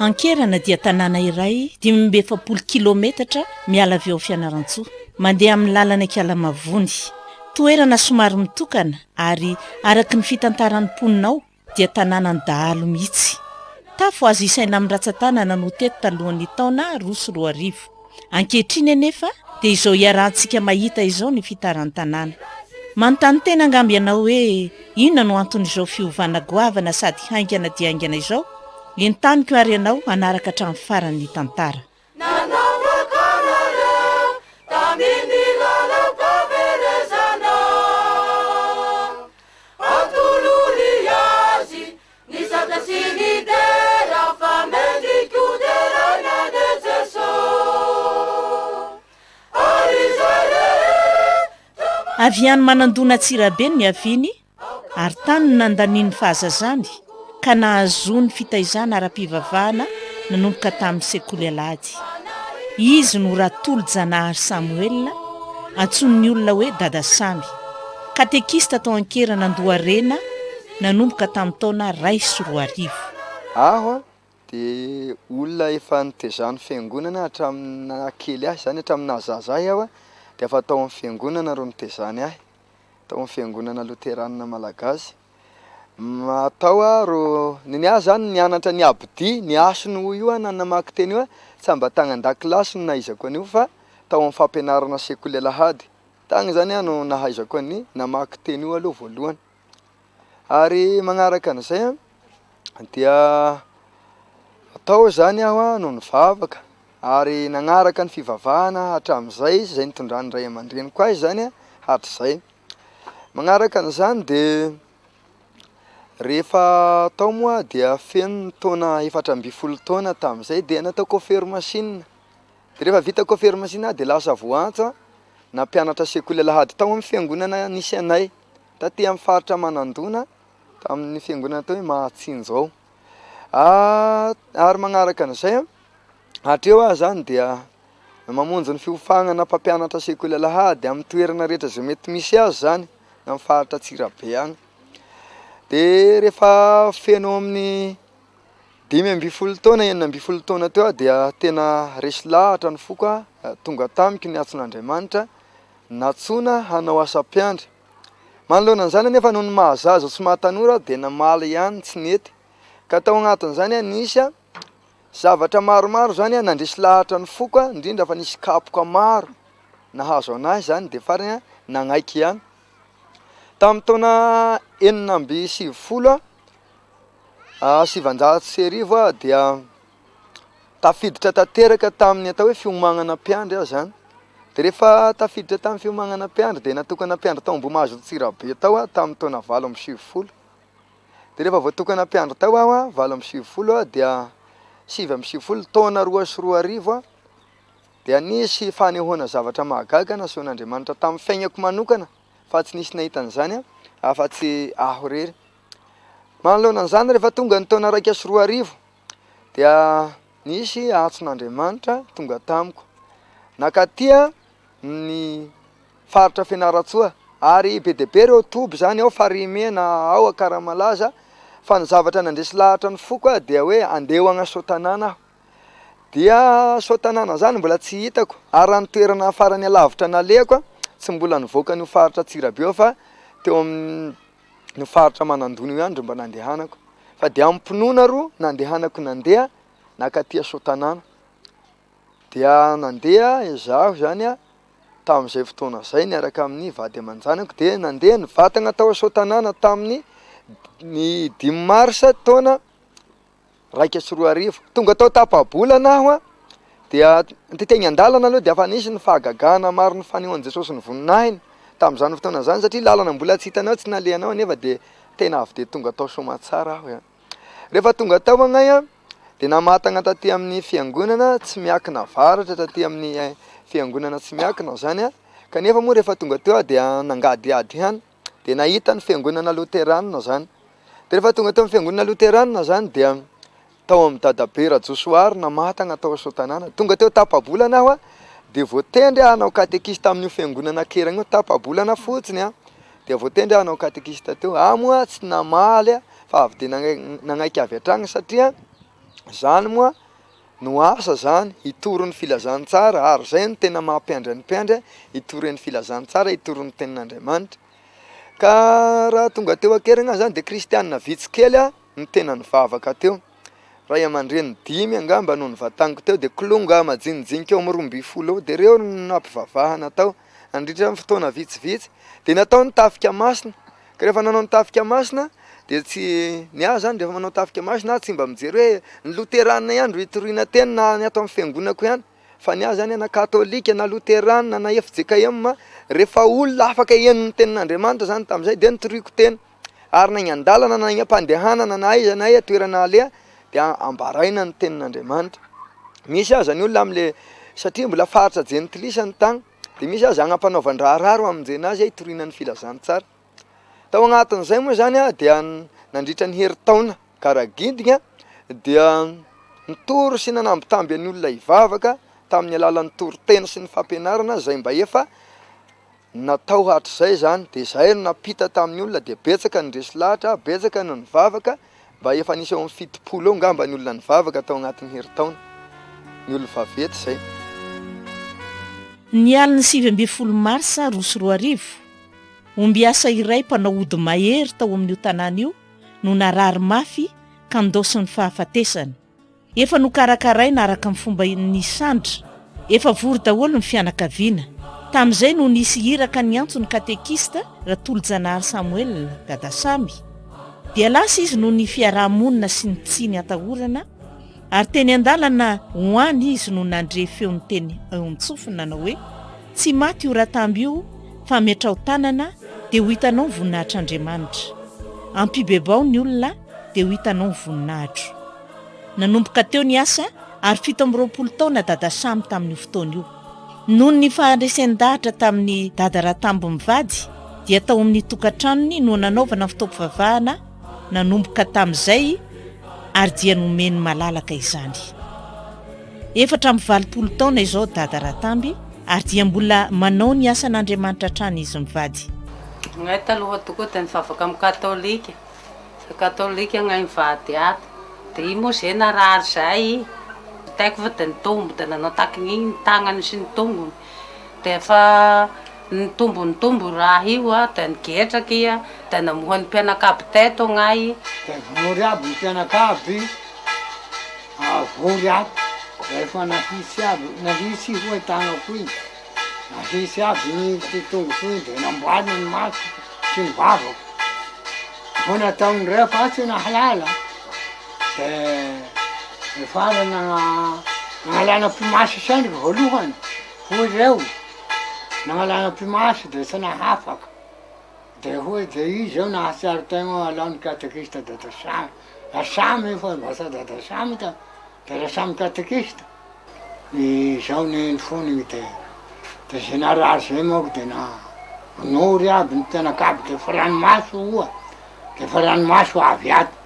Ankerana dia tanàna iray dimy amby efapolo kilaometatra miala avy ao Fianarantsoa, mandeha amin'ny lalana Ikalamavony. Toerana somary mitokana ary araka ny fitantaran'ny mponina ao dia tanànan'ny dahalo mihitsy. Tafo azo isaina amin'ny ratsan-tanana no teto talohan'ny taona roa sy roa arivo. Ankehitriny anefa dia izao iarahantsika mahita izao ny fitaran-tanàna. Manontany tena angamba ianao hoe inona no anton'izao fiovana goavana sady haingana dia haingana izao? Entaniko ary ianao hanaraka hatramin'ny farany ny tantara. Nisaotra sy nidera fa mendriko deraina anie Jeso ary izay rehetra Avy any Manandona Antsirabe no niaviany ary tany no nandaniany ny fahazazany ka nahazoany fitaizana ara-pivavahana nanomboka tamin'ny sekoly alahady. Izy no Ratolojanahary Samoela, antsoin'ny olona hoe Dada Samy, katekista tao Ankerana Andoharena, nanomboka tamin'ny taona iray sy roa arivo. Aho dia olona efa nitezan'ny fiangonana hatramin'ny naha kely ahy, izany hoe hatramin'ny naha zaza ahy aho dia efa tao amin'ny fiangonana ro nitezany ahy, tao amin'ny fiangonana loteranina malagasy, tao aho ro nony aho izany nianatra ny abidia, ny hasiny hoy io aho na namaky teny io aho, tsy mba tany an-dakilasy no nahaizako an'io fa tao amin'ny fampianarana sekoly alahady, tany izany aho no nahaizako ny namaky teny io aloha voalohany. ary manaraka an'izay an dia tao izany aho no nivavaka ary nanaraka ny fivavahana hatramin'izay sy izay nitondran'ny ray aman-dreniko ahy izany an hatrizay, manaraka an'izany dia rehefa tao moa aho dia feno ny taona efatra ambin'ny folo taona tamin'izay dia nataoko fery masinina, dia rehefa vitako fery masinina aho dia lasa voantsa nampianatra sekoly alahady tao amin'ny fiangonana nisy anay. taty amin'ny faritra Manandona tamin'ny fiangonana atao hoe Mahatsinjo ao. Ary magnaraka an'izay, hatreo aho izany dia mamonjy ny fiofagnana mpampianatra sekoly alahady amin'ny toerana rehetra izay mety misy azy izany na amin'ny faritra Antsirabe agny. Dia rehefa feno eo amin'ny dimy ambin'ny folo taona, enina ambin'ny folo taona teo aho dia tena resy lahatra ny foko, tonga tamiko ny antson'Andriamanitra. Nantsoina hanao asa mpiandry. Manoloana an'izany anefa noho ny maha zaza sy maha tanora dia namaly ihany tsy nety. Ka tao anatin'izany nisy zavatra maromaro izany nandresy lahatra ny foko indrindra fa nisy kapoka maro nahazo an'ahy izany dia farany nanaiky ihany. Tamin'ny taona enina amby sivifolo sivanjato sy arivo dia Tafiditra tanteraka tamin'ny atao hoe fiomanana mpiandry aho izany. Dia rehefa tafiditra tamin'ny fiomanana mpiandry dia natokana mpiandry tao Ambohimahazo Antsirabe tao aho tamin'ny taona valo amby sivifolo. Dia rehefa voatokana mpiandry tao aho, valo amby sivifolo, dia sivy amby sivifolo, taona roa sy roa arivo, dia nisy fanehoana zavatra mahagaga nasehon'Andriamanitra tamin'ny fiainako manokana fa tsy nisy nahita an'izany afa-tsy aho irery. Manoloana an'izany, rehefa tonga ny taona iraika sy roa arivo, dia nisy antson'Andriamanitra tonga tamiko, nakaty ny faritra Fianarantsoa, ary be dia be ireo toby izany ao Farimena, ao Akaramalaza, fa ny zavatra nandresy lahatra ny foko ahy dia hoe andeha ho agny Soatanana aho, dia Soatanana izany mbola tsy hitako, ary raha ny toerana farany alavitra nalehako an, tsy mbola nivoaka an'io faritra Antsirabe io fa teo amin'ny. ny faritra Manandonia ihany ry mba nandehanako fa dia amim-pinoana ro nandehanako nandeha nakaty Soatanàna. Dia nandeha izaho izany tamin'izay fotoana izay niaraka amin'ny vady aman-janako dia nandeha ny vatagna tao Soatanàna tamin'ny ny dimy marsa taona iraika sy roa arivo. Tonga tao Tapabolana aho an, dia nte teny an-dalana aloha dia efa nisy ny fahagagana maro ny fanehoan'i Jesosy ny voninahiny tamin'izany fotoana izany satria lalana mbola tsy hitanao tsy nalehanao anefa dia tena avy dia tonga tao Soamatsara aho an. Rehefa tonga tao agnay an, dia namatagna taty amin'ny fiangonana tsy miakina avaratra taty amin'ny eh, fiangonana tsy miakina izany an, kanefa moa rehefa tonga teo aho dia nangadiady ihany. dia nahita ny fiangonana loteranina izany dia rehefa tonga teo amin'ny fiangonana loteranina izany dia tao amin'ny dadabe Rajosoary Namatagna tao Soatanàna tonga teo tapa-bolana aho dia voatendry aho hanao katekista amin'io fiangonana keragna io tapa-bolana fotsiny an dia voatendry aho hanao katekista teo aho moa tsy namaly fa avy dia nanaiky avy hatrany satria izany moa No asa zany hitory ny filazantsara ary zay no tena maha mpiandry ny mpiandry hitory ny filazantsara hitory ny tenin'Andriamanitra ka raha tonga teo an-keriny aho zany dia kristianina vitsy kely aho no tena nivavaka teo ray aman-dreny dimy angamba no nivataniko teo dia kilonga majinijinika eo amin'ny roa ambin'ny folo eo dia reo no nampivavahana tao Nandritra ny fotoana vitsivitsy dia natao ny tafika masina, ka rehefa nanao ny tafika masina dia tsy, ny ahy izany rehefa manao tafika masina aho tsy mba mijery hoe ny loterana ihany ro hitoriana teny na ny ato amin'ny fiangonako ihany, fa ny ahy izany na katolika na loterana na fjkm, rehefa olona afaka hihaino ny tenin'Andriamanitra izany tamin'izay dia nitoriako teny. Ary na eny an-dalana na eny am-pandehanana na aiza na aiza toerana aleha dia ambaraina ny tenin'Andriamanitra. Misy aza ny olona amin'ilay satria mbola faritra jentilisa ny tany dia misy aza agnam-panaovan-draharaha ro amonjena azy hitoriana ny filazantsara. Tao agnatin'izay moa izany dia nandritra ny herintaona Karagindigna dia nitory sy nanambitamby an'ny olona hivavaka tamin'ny alalan'ny toriteny sy ny fampianarana izay mba efa Natao hatrizay izany dia izahay no nampita tamin'ny olona dia betsaka ny resy lahatra, betsaka no nivavaka, mba efa nisy eo amin'ny fitopolo eo ngamba ny olona nivavaka tao anatin'ny herintaona, ny olom-vaventy izay. Ny alin'ny sivy ambin'ny folo marsa roa sy roa arivo, ombiasa iray mpanao ody mahery tao amin'io tanàna io no narary mafy ka ndaosin'ny fahafatesana. Efa nokarakaraina araka ny fomba nisandra. Efa vory daholo ny fianakaviana. Tamin'izay no nisy iraka niantso ny katekista, Ratolojanahary Samuel, Dadasamy. Dia lasa izy noho ny fiaraha-monina sy ny tsiny atahorana, ary teny an-dalana ho any izy no nandre feo niteny eo an-tsofiny nanao hoe, Tsy maty io Ratamby io fa metraho tanana dia ho hitanao ny voninahitr'Andriamanitra. Ampibebao ny olona dia ho hitanao ny voninahitro. Nanomboka teo ny asa ary fito amby roapolo taona Dada Samy tamin'io fotoana io. Noho ny faharesen-dahatra tamin'i Dada Ratambo mivady dia tao amin'ny tokantranony no nanaovana ny fotoam-pivavahana nanomboka tamin'izay ary dia nomeny malalaka izany. Efatra amby valopolo taona izao Dada Ratamby ary dia mbola manao ny asan'Andriamanitra hatrany izy mivady. Izahay taloha tokoa dia nivavaka amin'ny katolika. Za katolika agnay mivady ato de iny moa zay narary zay taiko fa de nitombo de nanao taky ny tagnany sy ny tongony de efa nitombo nitombo io raha io a de nigetraky i a de namoha ny mpianakavy teto agnay de vory aby ny mpianakavy vory ato de efa nahitsy aby nahitsy i roa tagnako iny. Nahisy avy ny ity tongotr'io dia namboaliny ny masoko sy ny vavako. Vao nataony ref aho tsy nahalala dia efa nanalana pimasy sendriky voalohany hoy ireo, nanalana pimasy dia tsy nahafaka dia hoy dia izy izao nahatsiaro tegna alao ny katekista dada Samy, Samy io fa lasa dada Samy ka. Dia raha samy katekista ny zaony eny fony ny dia dia zay narary zay manko dia na nory aby ny mpianakavy dia efa ranomaso oa dia efa ranomaso avy ato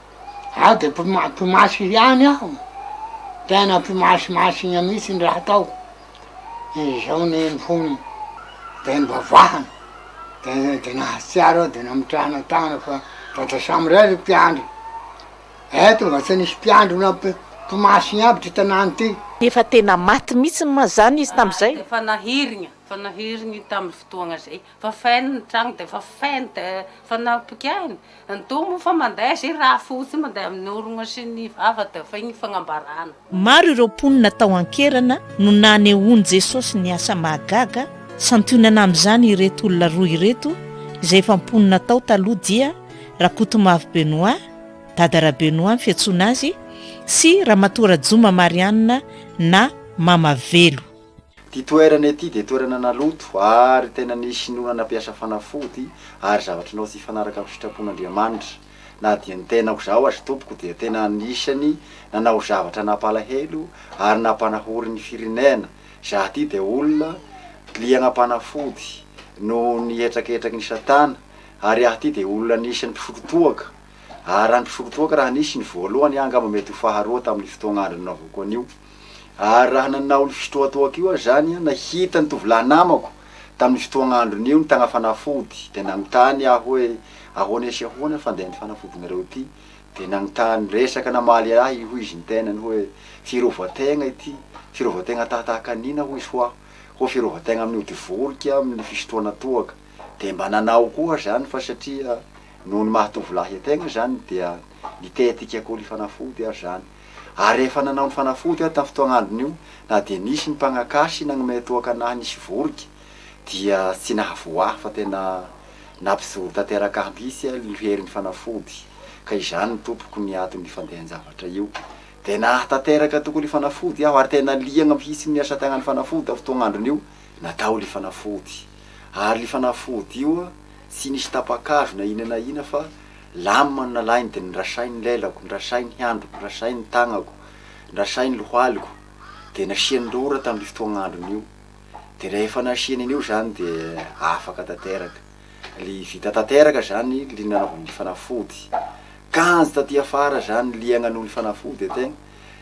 aho dia mpima- mpimasy ihany aho tena mpimasimasy igna mihitsy ny raha ataoko ny zaony eny fony dia nivavahana dia dia nahatsiaro aho dia namitrahana tagna fa vata samiray ry mpiandry Eto nga tsy nisy mpiandry na mpimasy ny aby ty tanàna ty. Efa tena maty mitsy ma zany izy tam zay? Efa nahirigna, efa nahirigny tam fotoagna zay, efa feno ny tragno de efa feno de efa nampikaigny, ny doha moa efa mandeha zay raha fotsiny mandeha amin'ny orogna sy ny vava de efa igny fagnambarana. Maro ireo mponina tao an-kerana no nanehoan'i Jesosy ny asa mahagaga, santionana amin'izany ireto olona roa ireto izay efa mponina tao taloha dia Rakotomavo Benoît, dada Rabenoît ny fiantsoana azy, sy Ramatoa Rajoma Marianne na Mama Velo. Ity toerana ity dia toerana naloto ary tena nisy noana nampiasa fanafody ary zavatr'Anao tsy hifanaraka amin'ny sitrapon'Andriamanitra. Na dia ny tenako izaho aza tompoko dia tena anisany nanao zavatra nampalahelo ary nampanahory ny firenena, izaho ity dia olona liana mpanafody noho ny hetraketraky ny satana ary aho ity dia olona anisany mpisotro toaka ary raha ny mpisotro toaka raha nisy ny voalohany aho angamba mety ho faharoa tamin'ny fotoagn'andro nanaovako an'io. Ary raha nanao ny fitohatohako io aho izany, nahita ny tovolahy namako tamin'io fotoagn'androny io nitagna fanafody, dia nagnontany aho hoe, Ahoana sy ahoana fa ndeha ny fanafodinareo ity? Dia nagnontany, niresaka namaly ahy io, hoy izy ny tenany hoe, Fiarovan-tegna ity, fiarovan-tegna tahatahaka ny inona hoy izy ho aho? Hoy fiarovan-tegna amin'ny ody voriky amin'ny fisotroana toaka. Dia mba nanao koa aho izany fa satria noho ny maha tovolahy an-tegna izany dia nitetika koli-fanafody aho izany. Ary rehefa nanao ny fanafody aho tamin'ny fotoan'androny io, na dia nisy ny mpagnakaha sy nagnomey toaka an'ahy nisy vorika, dia tsy nahavoa ahy, fa tena nampijoro tanteraka ahy mihitsy alo io herin'ny fanafody, ka izany no tompoko ny aton'ny fandehan-javatra io. Dia nahatanteraka tokoa ilay fanafody aho, ary tena liagna mihitsy ny asa tagnan'ny fanafody tamin'ny fotoan'andron'io natao ilay fanafody. Ary ilay fanafody io tsy nisy tapa-kazo na inona na inona fa. Lamina no nalahiny dia nirasainy ny lelako, nirasainy ny handriko, nirasainy ny tagnako, nirasainy ny lohaliko, dia nasiany rora tamin'io fotoagn'androny io. Dia rehefa nasiany an'io izany dia afaka tanteraka. Li vita tanteraka izany li nanaovany ny fanafody. Kanjo taty afara izany li hagnano ny fanafody tegna.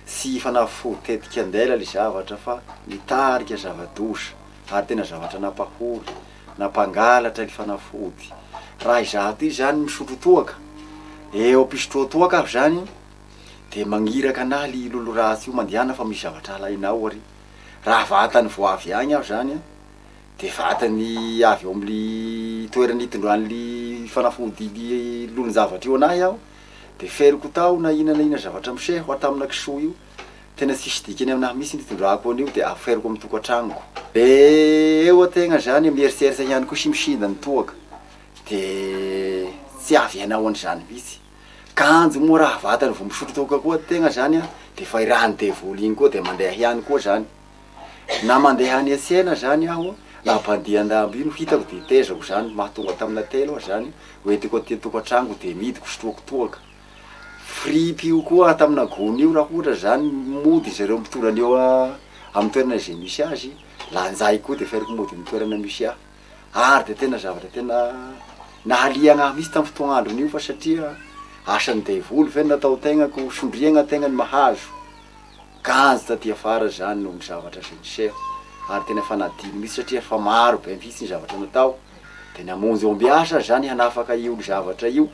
Tsy fanafody tetik'andela li zavatra fa nitarika zava-doza ary tena zavatra nampahory. na mpangalatra ny fanafody. Raha izaho ity izany misotro toaka, eo am-pisotroako toaka aho izany dia magniraka anah ly lolo ratsy io mandehana fa misy zavatra alainao ary. Raha vatany vao avy agny aho izany an, dia vatany avy ao amin'ny toerana itondran'ily fanafody ily lolon-javatra io anah aho, dia feriko tao na inona na inona zavatra miseho atamina kisoa io, Tena tsisy dikany aminahy mihitsy io fitondrako anio dia aferiko amin'ny tokantranoko. Dia eo an-tegna zany miheritreritra ihany koa sy misinda ny toaka dia tsy azo ianao an'izany mihitsy. Kanjo moa raha vatany vao misotro toaka koa tegna zany an dia efa i ràn'ny devoly igny koa dia mandeha ihany koa zany. Na mandeha any an-tsena zany aho na mpandia an-dambo io no hitako dia tezako zany, mahatonga tamina telo aho zany, ho entiko aty an-tokantranoko dia midiko sotroako toaka. fripio koa tamina gony io raha ohatra zany mody izy ireo mitora an'io amin'ny toerana izay misy azy, lanjaiko koa dia feriko mody amin'ny toerana misy ahy, ary dia tena zavatra tena nahaliana ahy mihintsy tamin'ny fotoana andron'io fa satria asan'ny devoly ve ny natao tenako, sondriagna tegna ny mahazo, ganjy taty afara zany noho ny zavatra izay niseho, ary tena efa nadino mihintsy satria efa maro be mihintsy ny zavatra natao, dia namonjy ombiasa aho zany hanafaka io zavatra io.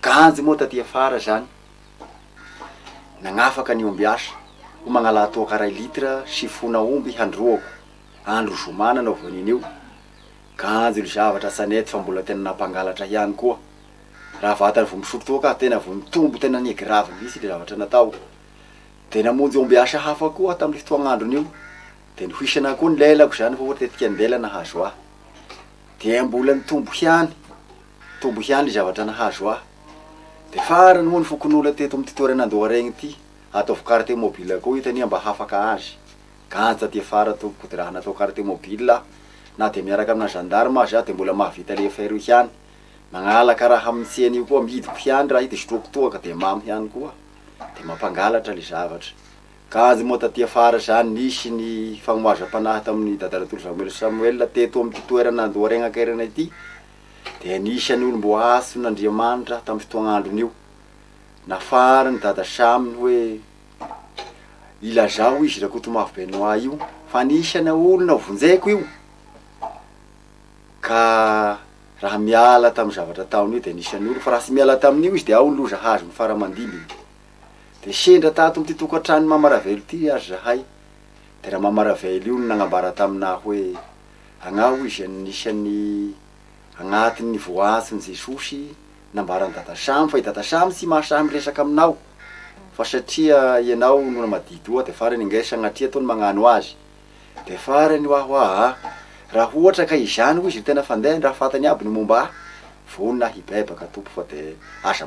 Ganjy moa taty afara izany nagnafaka ny ombiasa ho magnalà toaka iray litre sy fona omby handroako andro zoma nanao vonin io ganjy io zavatra tsy anety fa mbola tena nampangalatra ihany koa raha vatany vao misotro toaka aho tena vao nitombo tena ni grave mihitsy le zavatra natao de namonjy ombiasa hafa koa aho taminy fotoagnandrony io de nihoisana koa ny lelako izany fa ohatra tetika an-dela nahazo ahy dia mbola nitombo ihany Tombo ihany ny zavatra nahazo ahy. Dia farany moa ny fokonolona teto amin'ity toerana Andoharaigne ity. Ataovy carte mobile koa ito anie mba hafaka azy. Ganjy taty afara tompoko ko dia raha natao carte mobile aho na dia miaraka amina gendarme aza aho dia mbola mahavita le affaire io ihany. Mangalaka raha amin'ny tsena io koa amidiko ihany raha io dia sotroiko toaka dia mamy ihany koa. Dia mampangalatra le zavatra. Ganjy moa taty afara izany nisy ny fanohazam-panahy tamin'i Dada Ratolozamoelina Samuel teto amin'ity toerana Andoharaigne Ankairana ity. dia anisan'ny olom-boahason' Andriamanitra aho tamin'ny fotoagn'androny io. Nafarin'i Dada Sham ny hoe ilazao izy Rakotomavo Benoit io fa anisan'ny olona ho vonjeko io, ka raha miala tamin'ny zavatra ataony io dia anisan'ny olona, fa raha tsy miala tamin'io izy dia ao ny loza hazony fara-mandimby. Dia sendra tato amin'ity tokantranon'i Mama Ravelo ity ary zahay, dia Ramama Ravelo io no nagnambara tamin'ahy hoe. Angaha hoy izy anisan'ny agnatin'ny voaatsin'i Jesosy nambaran'i Dada Sam fa i Dada Sam tsy mahasahy miresaka aminao fa satria ianao no namadity oa dia farany angaha i Sagnatria toa ny magnano azy dia farany hoa hoa aa raha ohatra ka izany hoy izy ry tena fandeh ny raha fatany aby no momba ahy vonona hibaibaka Tompo fa dia aza